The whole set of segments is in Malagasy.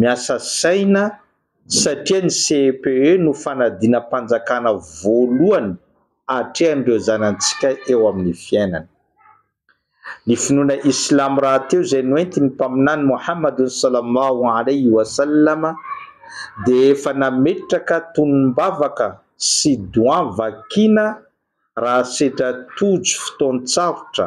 Miasa saina satria ny CEPE no fanadinam-panjakana voalohany atrehan'ireo zanantsika eo amin'ny fiainana. Ny finoana islamo rahateo izay noentin'ny Mpaminany Mohamadun Sallallahu Alaihi Wasallam dia efa nametraka tonom-bavaka sy doan vakina raha sedra tojo fotoan-tsarotra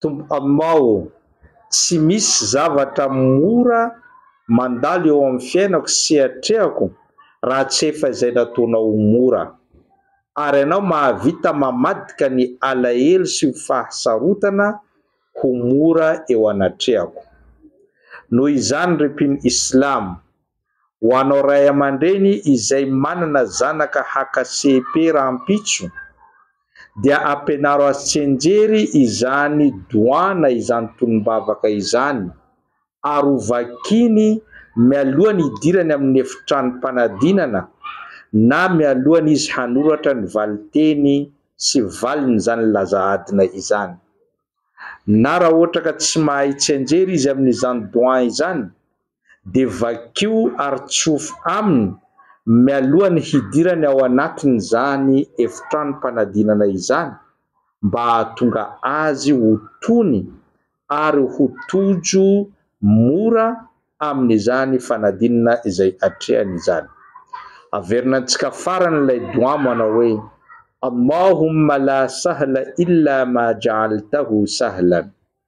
Tompo Amao ô! Tsy misy zavatra mora mandalo eo amin'ny fiainako sy atrehako raha tsy efa izay nataonao ho mora. Ary Ianao mahavita mamadika ny alahelo sy ny fahasarotana ho mora eo anatrehako. Noho izany ry mpino Islam, Ho anao ray aman-dreny izay manana zanaka haka CEP rahampitso dia ampianaro azy tsianjery izany doana izany tonom-bavaka izany ary ho vakiny mialohan'ny hidirany amin'ny efitranom-panadinana na mialohan'ny izy hanoratra ny valinteny sy valin'izany laza adina izany. Na raha ohatra ka tsy mahay tsianjery izy amin'izany doan izany dia vakio ary tsofy aminy mialoha ny hidirany ao anatin'izany efitranom-panadinana izany mba hahatonga azy ho tony ary ho tojo mora amin'izany fanadinana izay atrehany izany. Averina antsika farany ilay doua manao hoe, Allahumma la sahla illa ma ja'altahu sahlan.